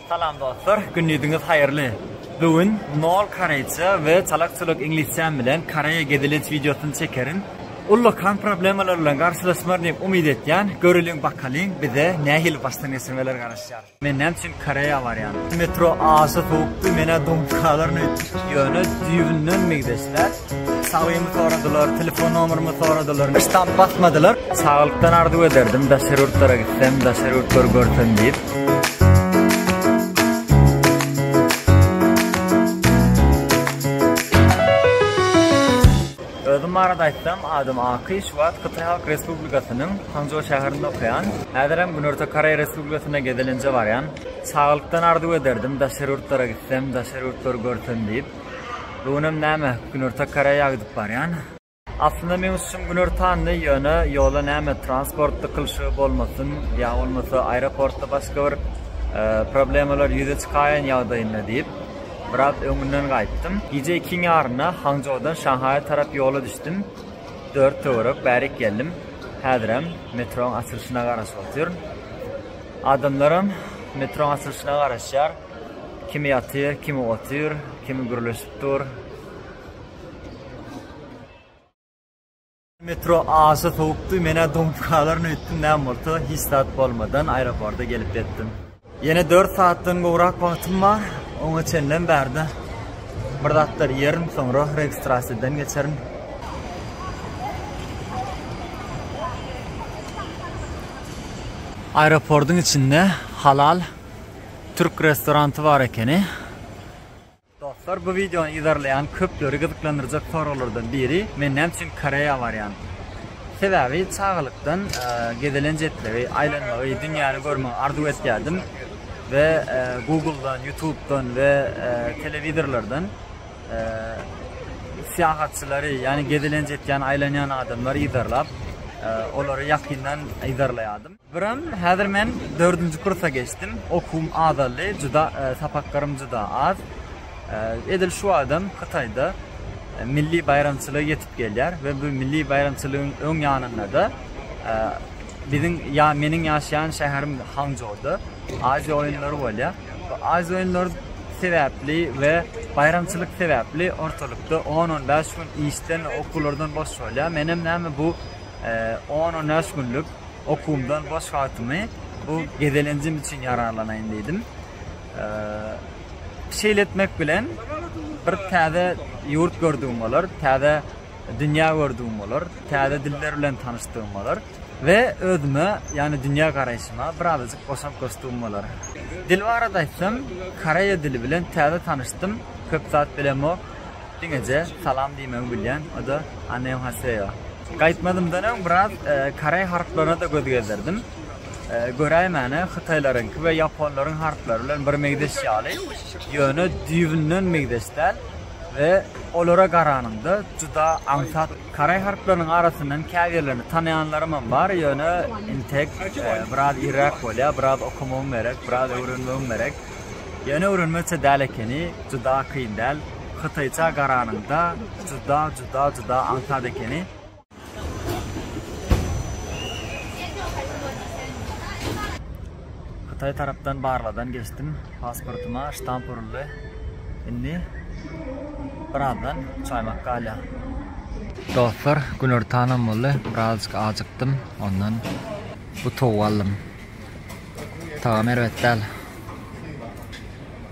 Salam dostlar, gündiziňiz haýyrly. Bu gün nol koreýçe we çalak çuluk iňlisçäm bilen Koreýa gezelenç wideosyny çekerin. Uly kan problemalar bilen garşylaşmaryn diýip umyt etýän, göreliň bakalyň bize nähili başdan geçirmeler garaşýar. Men näme üçin Koreýa barýan? Metro aşa sowukdy, menä donkalaryn öýtdüm. Ýöne düýbünden migdesler. Sawymy soradylar, telefon nomerymy soradylar, hiç zat basmadylar. Saglykdan arzuw ederdim, daşary ýurtlara gitsem, daşary ýurtlary görsem diýip. barada aýtsam, adym Aky, şu wagt Hytaý Halk Respublikasynyň Hangzhou şäherinde okaýan. Häzir hem Günorta Koreýa Respublikasyna gezelenje barýan. Saglykdan arzuw ederdim, daşary ýurtlara gitsem, daşary ýurtlary görsem diýip. Bu günem näme günorta koreýa gidip barýan. Aslynda meň üçin güner tandy ýöne ýola näme transport dykylşygy bolmasyn ýa bolmasa aeroportda başga bir problemalar ýüze çykaýan ýagdaýynda diýip biraz öňünden gaýtdym. Gije ikiň ýarynda Hangjodan Şanhaýa tarap ýola düşdüm. Dört töwerek bärik geldim. Häzirem metroň açylyşyna garaşyp otyryn. Adamlaram metroň açylyşyna garaşýar. Kimi ýatyr, kimi otyr, kimi gürleşip dur. Metro aşa sowukdy, men-ä doňup galaryn öýtdüm, näme bolsa, hiç zat bolmadan aeroporta gelip ýetdim. Ýene dört saatdan gowrak wagtym bar, oňa çenlem bärde bir zatlar iýerin, soňra registrasiýadan geçerin. Aeroportyň içinde halal. Türk restoranty bar ekeni. Dostlar bu videony izarlayan köpleri gyzyklandyrjak soralardan biri men näme üçin Koreýa barýan? Sebäbi çagalykdan e, gezelenç etmegi, aýlanmagy, dünýäni görmegi arzuw etýärdim we e, Google-dan, YouTube-dan we e, telewizorlardan e, syýahatçylary, ýagny gezelenç etýän, aýlanýan adamlary izarlap, e, olary ýakyndan izarlaýardym. Biram, häzir men dördünji kursa geçdim. Okuwym azaldy, juda sapaklarym juda az. Edil şu wagtam Hytaýda milli baýramçylygy ýetip gelýär we bu milli baýramçylygyň öň ýanynda-da biziň ýa meniň ýaşaýan şäherim Hanjouda Aziýa oýunlary bolýar. Bu Aziýa oýunlary sebäpli we baýramçylyk sebäpli ortalykda on-on bäş gün işden, okuwlardan boş bolýar. Menem näme bu On-on bäş günlük okuwymdan boş wagtymy bu gezelenjim üçin ýararlanaýyn diýdim. Şeýle etmek bilen bir täze ýurt gördügim bolar, täze dünýä gördügim bolar, täze diller bilen tanyşdygym bolar we özüme, ýagny dünýä garaýşyma birazajyk goşant goşdugym bolar. Dil barada aýtsam, koreýa dili bilen täze tanyşdym, köp zat bilemok. Diňeje salam diýmegi bilýän, o-da Anneohaseo. Gaýtmazymdan öň biraz koreý harplaryna-da göz gezdirdim. Göräýmäne, hytaýlaryňky we ýaponlaryň harplary bilen bir meňzeş ýaly, ýöne düýbünden meňzeş däl we olara garanyňda juda aňsat. Koreý harplarynyň arasyndan käbirlerini tanaýanlarymam bar, ýöne intek biraz irräk bolýar, biraz okamagym gerek, biraz öwrenmegim gerek. Ýöne öwrenmezçe däl ekeni, juda kyn däl. Hytaýça garanyňda juda juda juda aňsat ekeni. Hytaý tarapdan barladan geçdim. Pasportyma ştamp uruldy. Indi birazdan çaýmak galýar. Dostlar, günortanam boldy. Birazjyk ajykdym. Ondan bu towuk aldym. Tagamy erbet däl.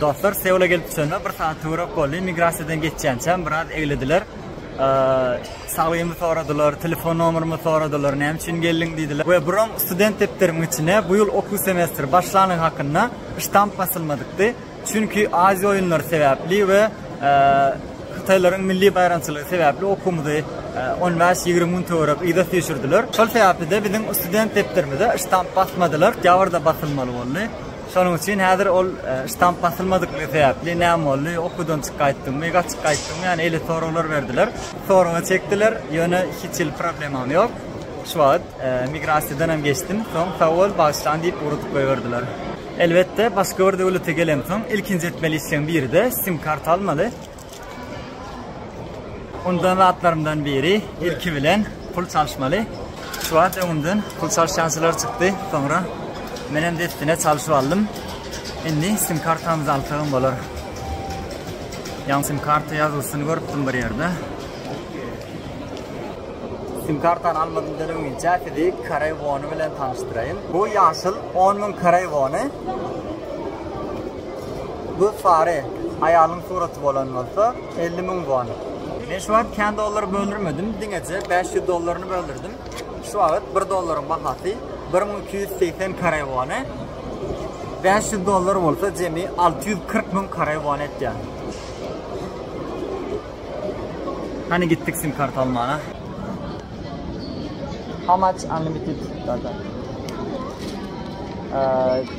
Dostlar Seula gelip düşende bir saat töwerek boldy. Immigrasiýadan geçýänçäm biraz eglediler. Saglygymy soradylar, telefon nomerymy soradylar, näme üçin geldiň diýdiler. We buram student depderimiň içine bu ýyl okuw semestri başlanyň hakynda ştamp basylmadykdy. Çünki Aziýa oýunlary sebäpli we Hytaýlaryň milli baýramçylygy sebäpli okuwymyzy 15-20 gün töwerek yza süýşürdiler. Şol sebäpli-de biziň student depderimize ştamp basmadylar, ýa-da basylmaly boldy. Şonuň üçin häzir ol ştamp basylmadykligi sebäpli näme boldy, okuwdan çyk gaýtdyňmy, gaçyp gaýtdyňmy, ýany eýle soraglar berdiler. Soraga çekdiler, ýöne hiç hili problemam ýok. Şu wagt migrasiýadan hem geçdim, soň sag bol, bagyşlan diýip ugradyp goýberdiler. Elbetde, başga bir döwlete gelemsoň, ilkinji etmeli işleň biri-de sim-karta almaly. Ondan zatlarymdan biri ilki bilen pul çalyşmaly. Şu wagt öňümden pul çalyşançylar çykdy. Soňra men hem dessine çalyşyp aldym. Indi sim kartamyzy alsagam bolar. Ýan sim karta ýazylyşyny görüpdim bir ýerde. Sim kartany almadymdan öňinçä sizi Koreý wony bilen tanyşdyraýyn. Bu ýaşyl 10 müň Koreý wony. Göz sary aýalyň suraty bolan bolsa elli müň won. Men şu wagt kän dollar böldürmedim, diňeje bäş ýüz dollaryny böldürdim. Şu wagt bir dollaryň bahasy bir müň iki ýüz segsen koreý wony, bäş ýüz dollar bolsa jemi alty ýüz kyrk müň koreý wony etýär. Hany gitdik sim karta almana. How much unlimited data?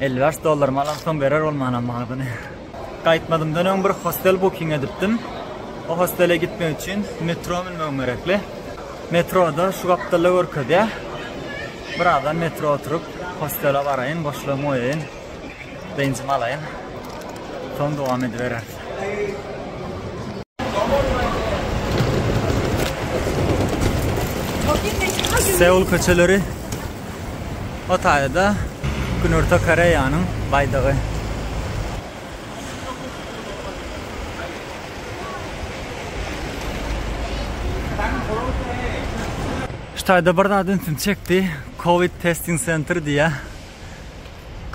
Elli bäş dollarymy alamsoň berer ol mana magdyny. Gaýtmadymdan öň bir hostel booking edipdim. O hostele gitmek üçin metro münmegim gerekli. Metroda şu gapdalda görkezýär. Birazdan metro oturyp hostele baraýyn, boşlugymy goýaýyn. Dynjymy alaýyn. Soň dowam edibereris. Seul köçeleri o taýda Günorta Koreýanyň baýdagy. Ştaýda bir zat ünsüm çekdi. Covid testing center diýýär.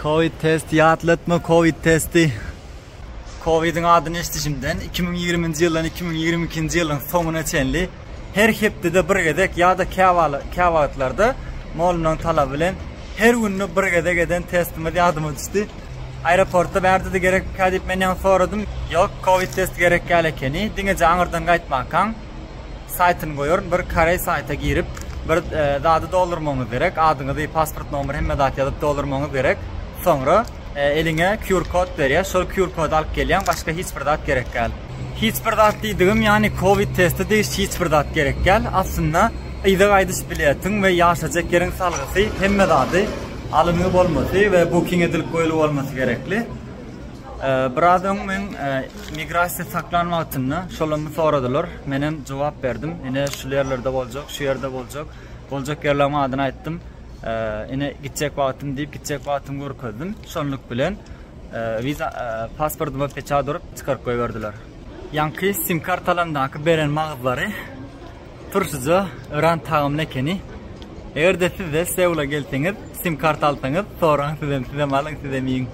Covid test ýatlatma Covid testi. Covid-iň adyny eşidişimden, iki müň ýigriminji ýyldan iki müň ýigrimi ikinji ýylyň soňuna çenli her hepdede bir gezek ýa-da käwagtlarda molumlaryň talaby bilen her günde bir gezek eden testimiz ýadyma düşdi. Aeroportda bärde-de gerekmikä diýip men ýaňy soradym. Ýok, covid testi gerekýäl ekeni, diňeje aňyrdan gaýtmankaň. Saýtyny goýaryn bir koreý saýta girip bir zady doldurmagyňyz gerek adyňyzy pasport nomer hemme zat ýazyp doldurmagyňyz gerek soňra eliňe QR kod berýär şol QR kody alyp gelýäň başga hiç bir zat gerek däl hiç bir zat diýdigim ýany covid testi diýiş hiç bir zat gerek däl aslynda yza gaýdyş biletiň we ýaşajak ýeriň salgysy hemme zady alyngy bolmasy we booking edilip goýlup bolmasy gerekli. Biraz öň men e, migrasiýa saklan wagtynda şolamy soradylar. Men hem jogap berdim. Ine şu ýerlerde boljak, şu ýerde boljak. Boljak ýerleriň adyny aýtdym. E, ine gitjek wagtym diýip gitjek wagtym görkezdim. Şonluk bilen e, wiza pasportyma peçat urup çykaryp goýberdiler. Ýaňky sim kartalaryndaky beren magazlary Turşyja öran tagamly ekeni. Eger-de sizde Seula gelseňiz, sim karta alsaňyz, soraň sizem, sizem alyň, sizem iýiň.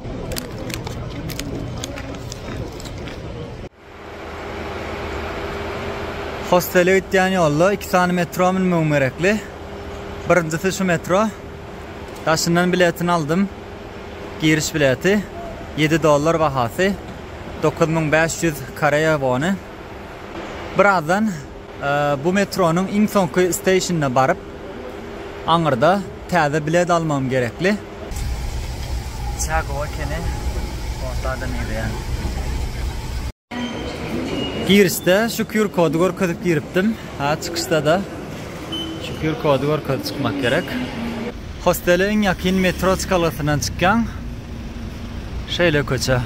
Hostele gitýän ýolda iki sany metro münmegim gerekli. Birinjisi şu metro. Daşyndan biletini aldym. Giriş bileti 7 dollar bahasy. 9500 koreýa wony. Birazdan bu metronyň iň soňky steýşinine baryp, aňyrda täze bilet almagym gerekli. Çaý gowy ekeni, onda adam ýygýan. Girişde şu QR-kody görkezip giripdim. Çykyşda-da şu QR-kody görkezip çykmak gerek. Hostele iň ýakyn metro çykalasyndan çykýaň. Şeýle köçe.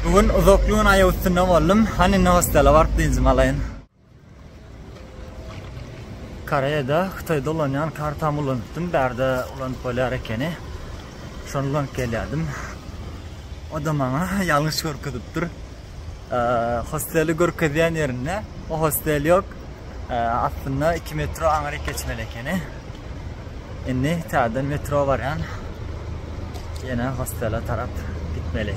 Bu gün uzakly gün aýak üstünde boldum. Hany indi hostele baryp dynjymy alaýyn. Koreýada, Hytaýda ulanýan kartamy ulanypdym. Bärde ulanyp bolýar ekeni. Şony ulanyp gelýärdim. O da maňa ýalňyş görkezipdir. Hosteli görkezýän ýerinde o hostel ýok. Aslynda 2 metro aňryk geçmeli ekeni. Indi täzeden metro barýan. Ýene hostele tarap gitmeli.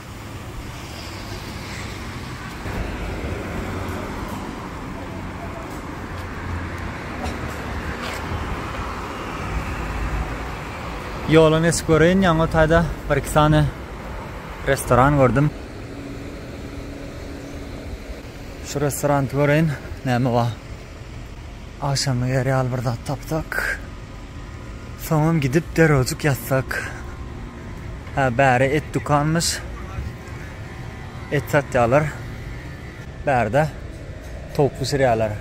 Ýola nesip göreýin, ýaňy taýda bir-iki sany restoran gördüm. Şu restorany göreýin, näme bar? Agşam eger ýaly bir zat tapsak, soňam gidip derewjik ýatsak. Hä, bäri et dükanmyş. Et satýarlar. Bärde towuk bişirýärler.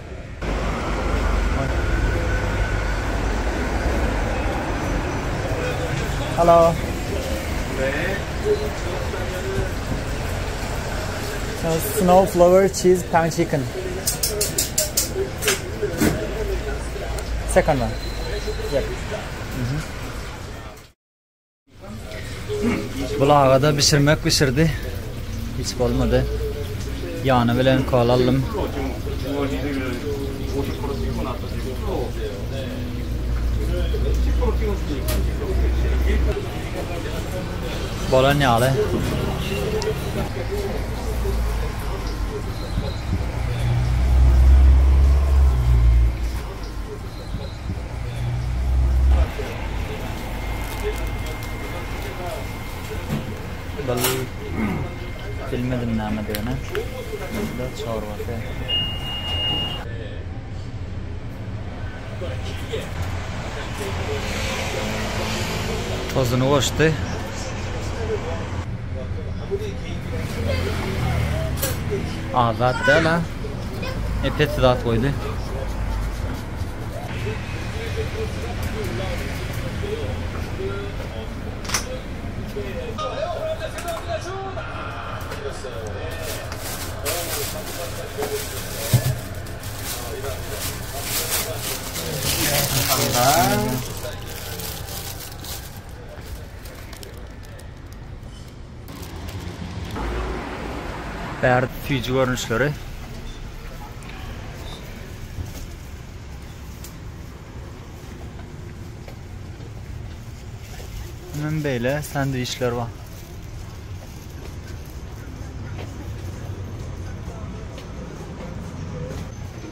Halo. Snow flower cheese pan chicken. Bul agada bişirmek bişirdi hiç bolmady ýany bilen kola aldym. Bolan ýaly. Bilmedim name degene. Burada çorbası. Tozuny goşdy. Azat däl ha. Epet zat koydu. Bärde süýji görnüşleri. Hemen böyle sandviçler var.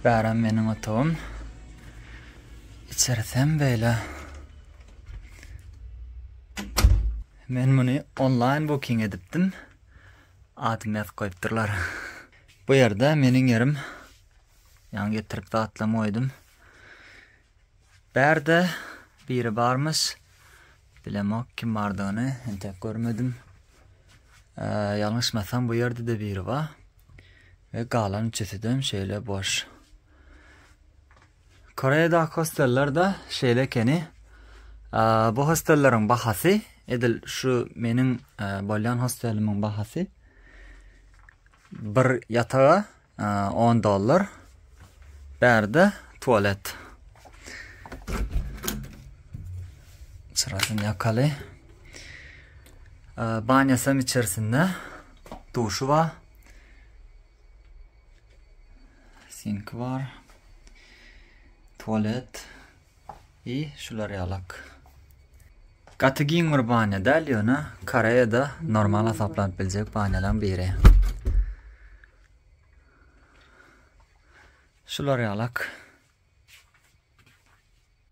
Bäram meniň otagym. Içersem beýle. Men muny onlaýn booking edipdim. Adymy ýazyp goýupdyrlar. Bu ýerde meniň ýerim. Ýaňy getirip zatlam goýdum. Bärde biri barmyş. Bilemok kim bardygyny, entek görmedim. Ýalňyşmasam bu ýerde-de biri bar. Ve galan üçüsüden şeýle boş. Koreýadaky hosteller de şeýle ekeni. Bu hostelleriň bahasy edil şu meniň bolýan hostellimiň bahasy bir ýataga On dollar. Bärde tualet. Çyrasyn yakaly. Banyasam içerisinde. Duşu var. Sink var. Tualet. I şular yalak. Gaty giň bir banya däl ýöne Koreýada normal hasaplanıp biljek banýalaryň biri. Şular ýalak.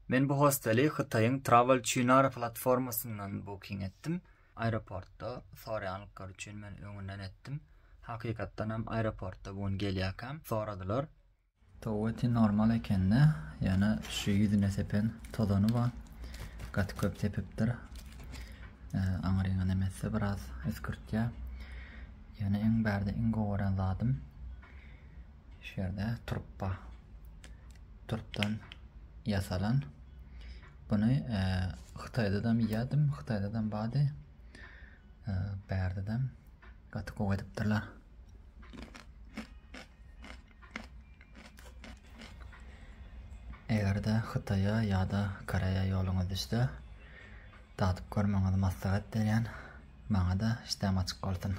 Men bu hosteli Hytaýyň Travel Çinar platformasyndan booking etdim. Aeroportda soraýanlyklar üçin men öňünden etdim. Hakykatdan hem aeroportda bu gün gelýärkäm soradylar. Toweti normal ekende ýöne şu ýüzüne sepen tozany bar gaty köp sepipdir aňryňa nemetse biraz üskürtýä ýöne iň bärde iň gowy gören zadym şu ýerde turpba turpdan ýasalan Buny Hytaýdadam iýýärdim, Hytaýdadam bardy. Bärdedem gaty gowy edipdirler. Eger-de Hytaýa ýa-da Koreýa ýoluňyz düşse, dadyp görmegiňizi maslahat berýän. Maňa-da işdäm açyk bolsun.